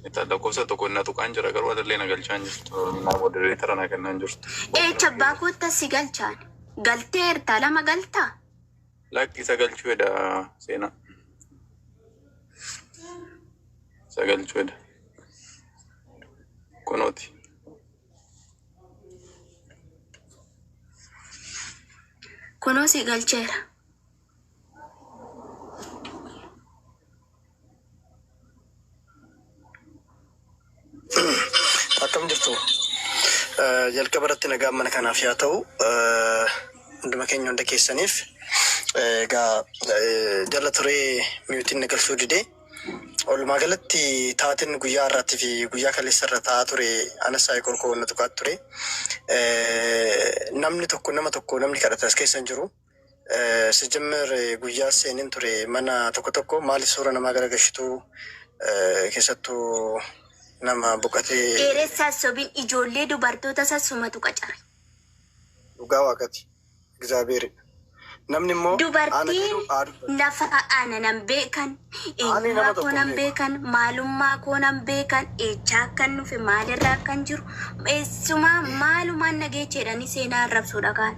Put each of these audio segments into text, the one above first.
Ita lakkoofsa tokko na tuqaan jira garuu adallee na galchaan jirtu. Oromimaa modereetara na kennaan jirtu. Eecha abbaa kootta si galchaan. Galtee ertaa lama galtaa? Lakki isa galchuu eda seenaa. Isa galchuu eda. Kunooti. Kunoo si galcheera. Akkam jirtu? Eh, Jalqaba irratti nagaan mana kanaaf yaa ta'u. Eh, Hunduma keenya hunda keessaniif. Eh, Egaa eh, jala turee miyuutiin na galchuu dide. Walumaa galatti taateen guyyaa har'aatii fi guyyaa kaleessa irra taa'aa ture anas saayii korkoo na tuqaa ture. Eh, Namni tokko nama tokko namni kadhate as keessa hin jiru. Sijjimmer guyyaa seenin ture mana tokko tokko maaliif suura namaa garagashitu keessattu nama boqatee. Dheeressaa sobin ijoollee dubartoota isaa sumatu qacare. Dhugaa waaqati. Egzaabeeri. Namni immoo Dubartiin nafa ana nan beekan, eenyummaa koo nan beekan, maalummaa koo nan beekan, eechaa akkan dhufe, maalirra akkan jiru, eessumaa maalumaan nageecheedhani seenaa arrabsuudha kaan.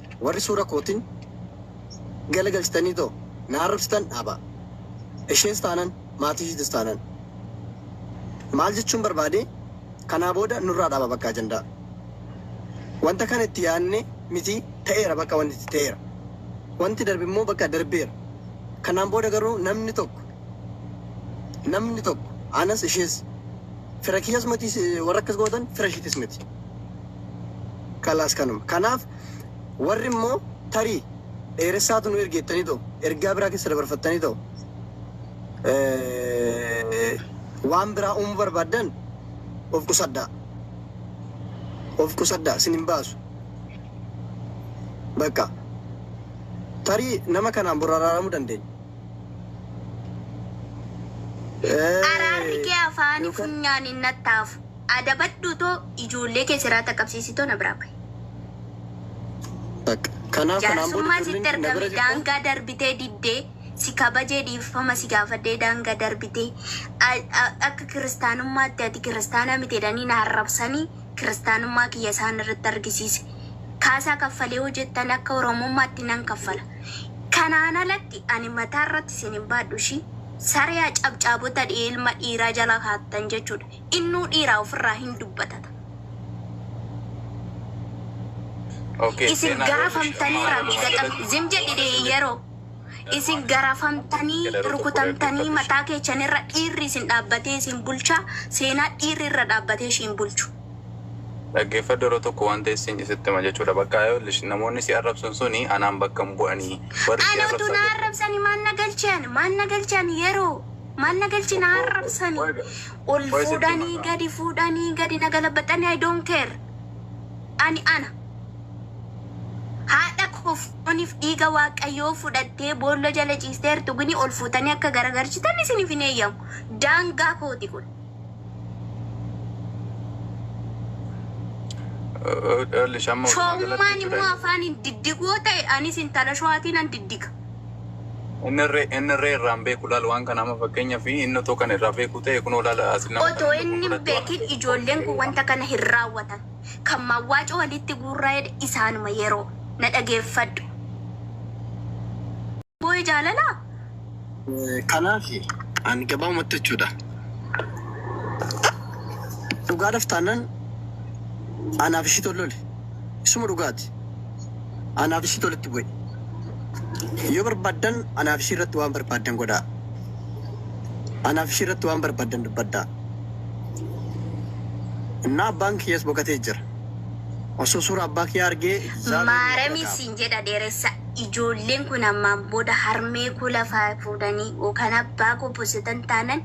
Warri suura kootin gala galchitaniitoo na arrabsitan dhaabaa. Ishees taanan maatii ishiitis taanan. Maal jechuun barbaade kanaa booda nurraa dhaaba bakka ajandaa. Wanta kana itti yaadne miti ta'eera bakka wanti itti ta'eera. Wanti darbe immoo bakka darbeera. Kanaan booda garuu namni tokko namni tokko anas ishees fira kiyyas miti warra akkas gootan fira ishiitis miti. Kalaas kanuma. Kanaaf warri immoo tarii dheeressaatu nu erge jettanii ta'u, ergaa biraa keessa dabarfattanii ta'u, waan biraa uumuu barbaaddan of qusadhaa. Of qusadhaa sin hin baasu. Bakka tarii nama kanaan bor araaramuu dandeenya. Araarri kee afaanii funyaan hin nattaafu. Adabadhuu too ijoollee kee seraa taqabsiisi too na biraa bahi. Bakka. Kanaaf kanaan booda Jaarsummaa ijoolleen sitti kee na bira ergame jirta. daangaa darbitee diddee si kabajee dhiifama si gaafadhee daangaa darbitee a- a- akka kiristaanummaatti ati kiristaana miti jedhanii na arrabsanii kiristaanummaa kiyya isaan irratti argisiise kaasaa kaffalee yoo jettan akka oromummaatti nan kaffala kanaan alatti ani mataa irratti isin hin baadhu ishii saree cabcaabota dhi'ee ilma dhiiraa jala kaattan jechuudha Innuu dhiiraa ofirraa hin dubbatata. Okay, Isin seenaa yoo gaafamtanii ishee- rabbi Maaluma gaxam jedhan? zim jedhi dee yeroo isin garafamtanii Jedha rukutu rukutamtanii fudhadhu. mataa keechan irra dhiirri isin dhaabbatee isin bulchaa seenaa dhiirri irra dhaabbatee ishiin bulchu. Dhaggeeffadhu yeroo tokko wanta isin isitti hima jechuudha. Bakka ayollish namoonni si arrabsan suni anaan bakka hin bu'anii. Warri si Ana utuu na arrabsan arrabsanii maal na galchan maal na galchan yeroo Maal na galchi na arrabsani. Ol fuudhani gadi fuudhani gadi na galabaxani I don't care. Ani ana. Haadha koo fooniif dhiiga waaqayyoo fudhattee boolla jala ciistee artugini ol fuutanii akka garagarchitan isiniif hin eeyyamu. Daangaa kooti kun. Shoommaan immoo afaan hin diddigu yoo ta'e anis intala showaatiin an diddiga. Inni irree, inni irree irraa hin beeku. Laal waan kana amma fakkeenyaaf inni otoo kana irraa beekuu ta'e kunoo laal as nama Otoo kana inni hin fudhadhu waan beekin ijoolleen kun wanta kana hin raawwatan. Kan mawwaacoo walitti guurraa jedhe isaanuma yeroo. Na dhageeffadhu. Boo'e jaalalaa? Kanaaf ani gabaabumatti jechuudha. Dhugaadhaaf taanaan anaaf ishiitu ol lole. Isuma dhugaati. Anaaf ishiitu walitti bu'e. Yoo barbaaddan anaaf ishii irratti waan barbaaddan godhaa. Anaaf ishii irratti waan barbaaddan dubbadhaa. Innaa abbaan kiyyas boqatee jira. Osoo suuraa abbaa kiyyaa argee Izaabeel na Maarami dhaga'a. siin jedha dheeressa ijoolleen kun ammaan booda harmee koo lafaa fuudhanii yookaan abbaa koo busitan taanan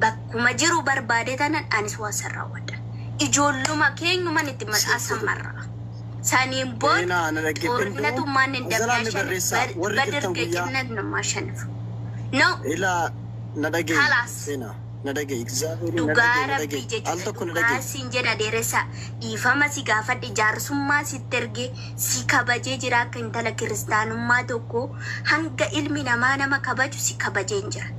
bakka Akkuma jiru barbaade tanan anis waan san raawwadha. Ijoolluma keenyuman itti maxaa san marra. Saniin booda Xoorinatu maannen dabnaa shanif badirge cinnat namaa shanif. No. Kalaas. Dhugaa rabbii jechuudha dhugaa siin jedha dheeressaa dhiifama si gaafadhe jaarsummaa sitti ergee si kabajee jira akka intala kiristaanummaa tokkoo hanga ilmi namaa nama kabaju si kabajeen jira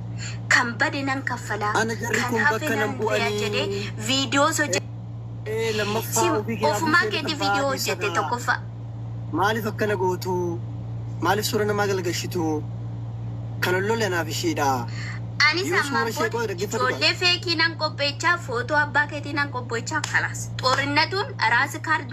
kan bade nan kaffala Ana jarri kan kun hafe bakka nan nan bu'a bu'anii. jedhee viidiyoos hojjete Ee, lammaffaa si ofii kee ofumaa abdii keetii keetii viidiyoo kaffaa hojjete keessaa. tokkoffaa Maaliif akkana gootu? Maaliif suura namaa galgashitu? Kan ollolle anaaf ishiidha. Anis Yoo ammaan suura ishee booda qoode dhaggeeffadhu ijoollee feekii nan qopheechaa, footoo abbaa keetii nan qopheechaa, kalaas. Xorinnatuun raas kaard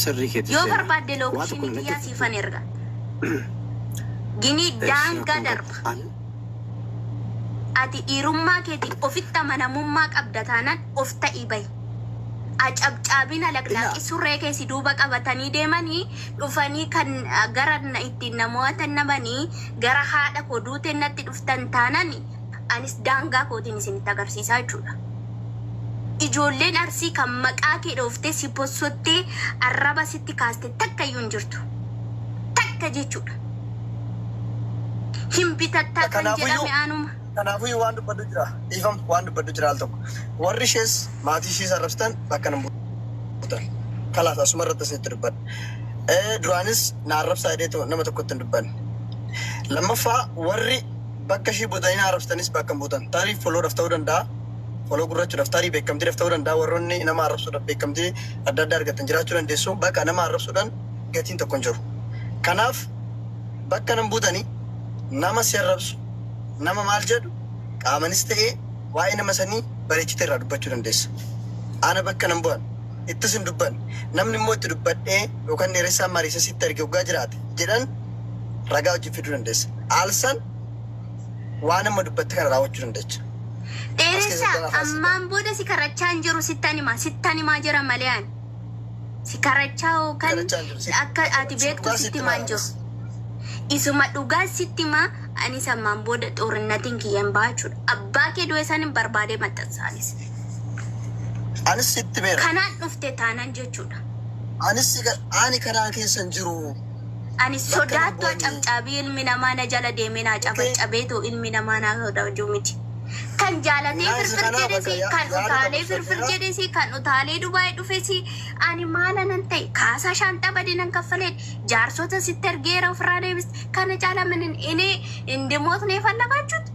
Sirrii keeti Yoo seenaa. barbaadde Waa tokko lookeshinii natti kiyyaa siifan erga. Ginii daangaa darba. An Ati dhiirummaa keetiif ofitti amanamummaa qabda taanaan of ta'ii bahi. Acabcaabina laqlaaqi surree kee si duuba qabatanii deemanii dhufanii kan ah, gara na- ittiin na mo'atan dhabanii gara haadha koo duuteen natti dhuftan taanaan anis daangaa kootiin isinitti agarsiisaa jechuudha. Ijoolleen Arsii kan maqaa kee dhooftee si bossottee arraba sitti kaaste takka iyyuu hin jirtu. Takka jechuudha. Hin bitattaa kan Kanaafuyyuu jedhame anuma. kanaafuyyuu waan dubbadhu jira. Dhiifam waan dubbadhu jira al tokko. Warri ishees maatii ishees arrabsitan bakka nan buutan. Kalaas asuma irratti isinitti dubbadha. Eh, Duraanis na arrabsaa jedheetu nama tokkotti hin dubbanne. Lammaffaa warri Bakka ishii butanii naa arrabsitanis bakka hin butan. Tarii follow dhaf ta'uu danda'a, follow gurrachuu dhaf, tarii beekkamtii dhaf ta'uu danda'a, warroonni nama arrabsuu dhan beekkamtii adda addaa argattan jiraachuu dandeessu, baqa nama arrabsuu dhan gatiin tokko hin jiru. Kanaaf bakka nan butani nama si arrabsu, nama maal jedhu qaamanis ta'ee waa'ee nama sanii bareechitee irraa dubbachuu dandeessa. Ana bakka nan bu'an, ittis hin dubbanne, namni immoo itti dubbadhee yookan dheeressaan mariisee sitti erge oggaa jiraate jedhan, ragaa wajjin fiduu dandeessa. Aalsan waan amma dubbatte kana raawwachuu dandeecha. Dheeressa ammaan booda si karachaa hin jiru sittan himaa sittan himaa jira malee ani si karachaa yookaan akka ati beektu sitti himaa hin jiru. Isuma dhugaa sitti himaa anis ammaan booda xoorinnatiin kiyya hin baha jechuudha. Abbaa kee du'e san hin barbaadee maxxansaanis. Anis sitti meera. Kanaan dhufte taanan jechuudha. Anis ani kanaan keessa hin jiru. Ani sodaattu cabcaabii ilmi namaa na jala deemee naa cabaccabeetu ilmi namaa naa sodaachuu miti. Kan jaalatee firfir jedhesi, kan utaalee firfir jedhesi, kan utaalee Dubaay dhufesi, ani maala nan ta'e kaasaa shaanxaa bade nan kaffaleen jaarsota sitti ergeera ofirraa deebis. Kana caala minin ini indimootnee fallagaachuutti.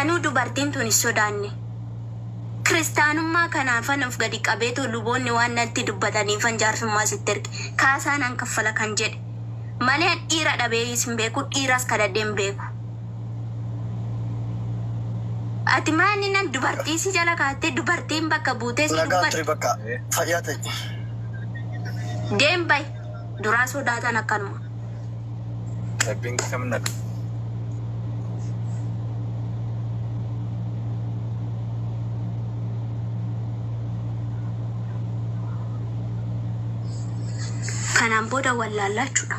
Anuu dubartiin tuni sodaanne. Kiristaanummaa kanaafan of gadi qabeetoo luboonni waan natti dubbataniifan jaarsummaa sitti erge. Kaasaa nan kaffala kan jedhe. Malee an dhiira dhabee sin beeku, dhiiras kadhadhee hin beeku. Ati maa inni nan dubartii si jala kaattee dubartiin bakka buutee si Nagaa dubbatti. turi bakka fayyaa ta'i. Deem bay. Duraa sodaatan akkanuma. Rabbiin kam naqa. Kanaan booda wallaallaa jechuudha.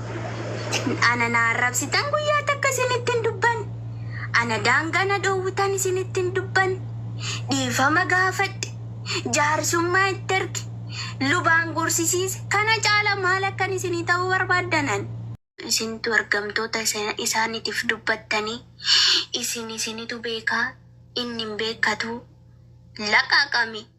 Ana na arrabsitan guyyaa takka isinitti hin dubban. Ana daangaa na dhoowwitan isinitti hin dubban. Dhiifama gaafadhe. Jaarsummaa itti erge. Lubaan gorsisiise. Kana caala maal akkan isinii ta'uu barbaaddan ani? Isintu ergamtoota isaaniitiif dubbattanii isin isinitu beeka inni hin beekkatu. Laqaqami!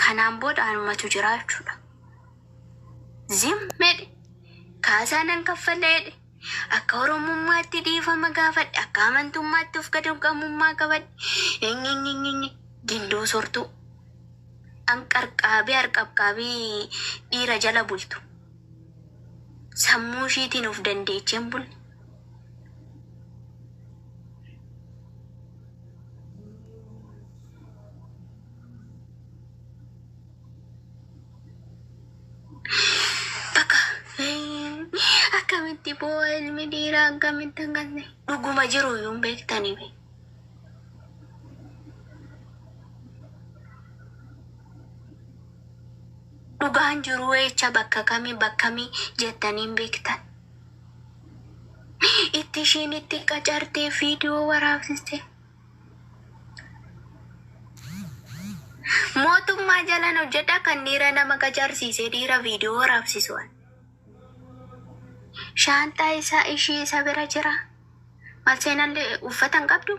Kanaan booda anumatu jira jechuudha. Zim jedhe. Kaasaa nan kaffalla jedhe. Akka Oromummaatti dhiifama gaafadhe. Akka amantummaatti of gadamqamummaa qabadhe. Enyenyenyenye gindoo sortuu. An qarqaabii harqabqaabii dhiira jala bultu. Sammuu ishiitiin of dandeecheen bulle. Akkamitti boo ilmi dhiiraa akkamitti akkasni dhuguma jiru yuun beektanii be. Dhugaan jiru jecha bakka kamii bakka kamii jettanii hin beektan. itti ishiin itti qacartee viidiyoo waraabsiste. Mootummaa jalan hojjedha kan dhiira nama qacarsiise dhiira viidiyoo waraabsisu. Shaanxaa isaa ishii isa bira jira. Malseenallee uffata hin qabdu.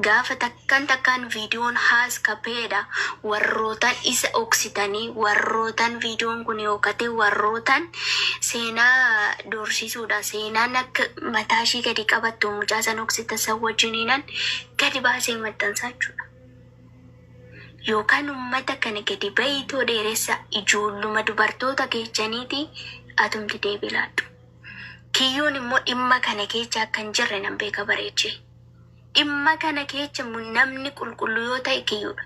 Gaafa takkan takkan videon has ka peedha warrootan isa dhoksitani warrootan videon kuni yokate warrootan seena doorsisuudha seenan akka mataa ishii gadi qabattu mucaa san dhoksitan san wajininan gadi baasee maxxansa jechuudha yokan ummata kana gadi bayiitoo dheeressa ijoolluma dubartoota keechaniiti atumti deebi laadhu kiyyuun immoo dhimma kana keecha akka hin jirre nan beeka bareechee. Dhimma kana keecha namni qulqullu yoo ta'e kiyyudha.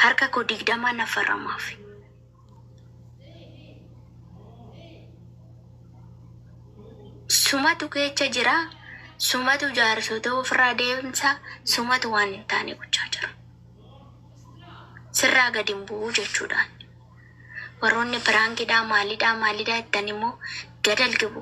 Harka koo digdamaa na faramaafi. Sumatu keecha jira, sumatu jaarsota ofirraa deemsa, sumatu waan hin taane gochaa jira. Sirraa gadi hin bu'u jechuudhaan. Warroonni piraankiidhaa maalidhaa maalidhaa jettan immoo gadal gibu.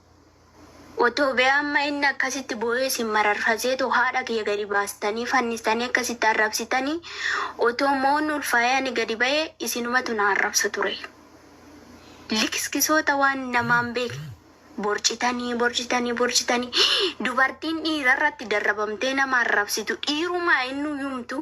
Otoo bee amma inni akkasitti boo'ee isin mararfaseetu haadha kiyya gadi baastanii fannistanii akkasitti arrabsitanii otoo moon ulfaa'ee ani gadi ba'e isinumatu na arrabsa ture. Likiskisoota waan namaa hin beekne borcitanii borcitanii borcitanii dubartiin dhiirarratti darrabamtee nama arrabsitu dhiirumaa innuu yumtuu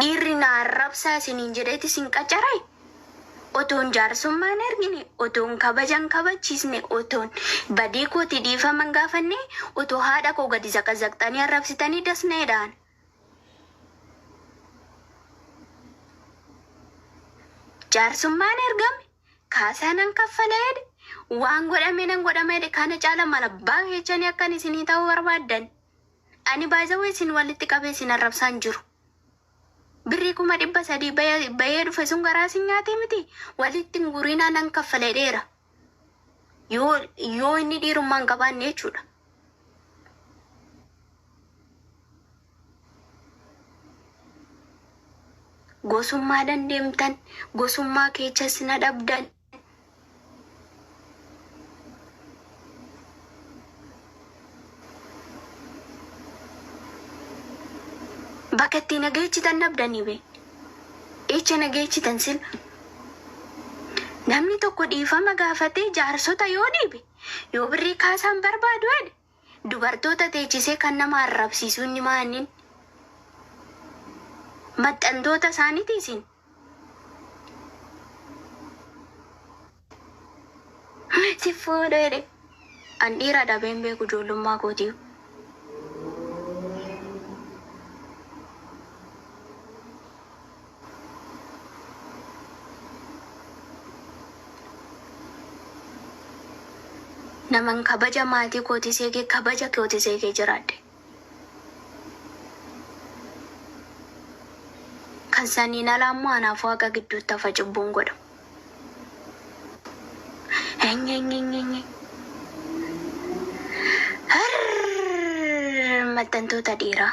Dhiirri na arrabsaa isiniin jedheeti isin qacare? Otoon jaarsummaa hin argine, otoon kabaja hin kabachiisne, otoon badii kootii dhiifama hin gaafanne, otoo haadha koo gadi zaqazaqxanii arrabsitanii das na jedhaan. Jaarsummaan ergame, kaasaa nan kaffala jedhe, waan godhame nan godhama jedhe, kana caala maal abbaa keessanii akkan isinii ta'u barbaaddan? Ani by the way isin walitti qabee isin arrabsaa hin jiru. Birrii kuma dhibba sadii baya- bayee dhufe sun garaa isin nyaatee miti walitti hin gurinaa nan kaffala jedheera. Yoo yoo inni dhiirummaa hin qabaanne jechuudha. Gosummaadhaan deemtan gosummaa keechas na dhabdan. Bakka itti na geechitan dhabdanii bee. Echa na geechitan sila. Namni tokko dhiifama gaafatee jaarsota yoo dhiibe, yoo birrii kaasaan barbaadu jedhe, Dubartoota teechisee kan nama arrabsiisuu inni maa innin? Maxxantoota isaaniti isin? Sin fuudhu jedhe. An dhiira dhabee hin beeku ijoollummaa kootiyu. Naman kabaja maatii kootis eege kabaja kootis eegee jiraadhe. Kan saniin alaa immoo anaaf Waaqa gidduutti hafa cubbuun godhamu. Enyenyenyenye. Harr! Maxxantoota dhiiraa.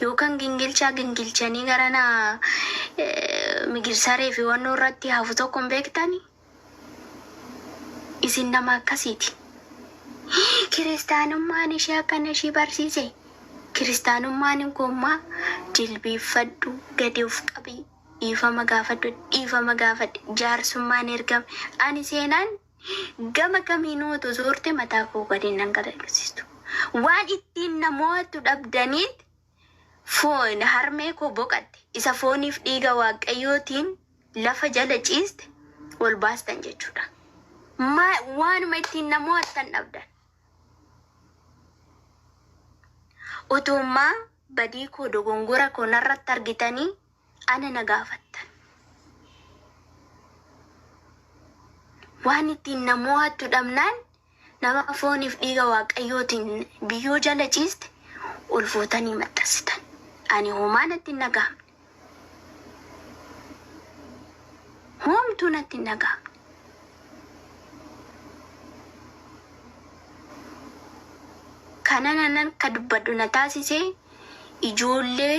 yookan gingilchaa gingilchanii garana migirsaree fi wannoo irratti hafu tokko hin beektani? Isin nama akkasiiti. Kiristaanummaan ishee akkana ishii barsiise. Kiristaanummaan hin koommaa jilbiiffadhu gadi of qabii dhiifama gaafadhu dhiifama gaafadhe jaarsummaan ergame ani seenaan Gama kamiinuu utuu zoortee mataa koo gad hin dhangala'isiistu. Waan ittiin na mo'attu dhabdaniin foon harmee koo boqatte, isa fooniif dhiiga Waaqayyootiin lafa jala ciiste ol baastan jechuu dha. Ma, waanuma ittiin na mo'attan dhabdan. Utuummaa badii koo dogongora koo narratti argitanii Ana na gaafattan. Waan ittiin na mo'attu dhabnaan nama fooniif dhiiga Waaqayyootiin biyyoo jala ciiste ol fuutanii maxxansitan. Ani homaa natti hin dhaga'amne. Homtuu natti hin dhaga'amne. Kana nan akka dubbadhu na taasise ijoollee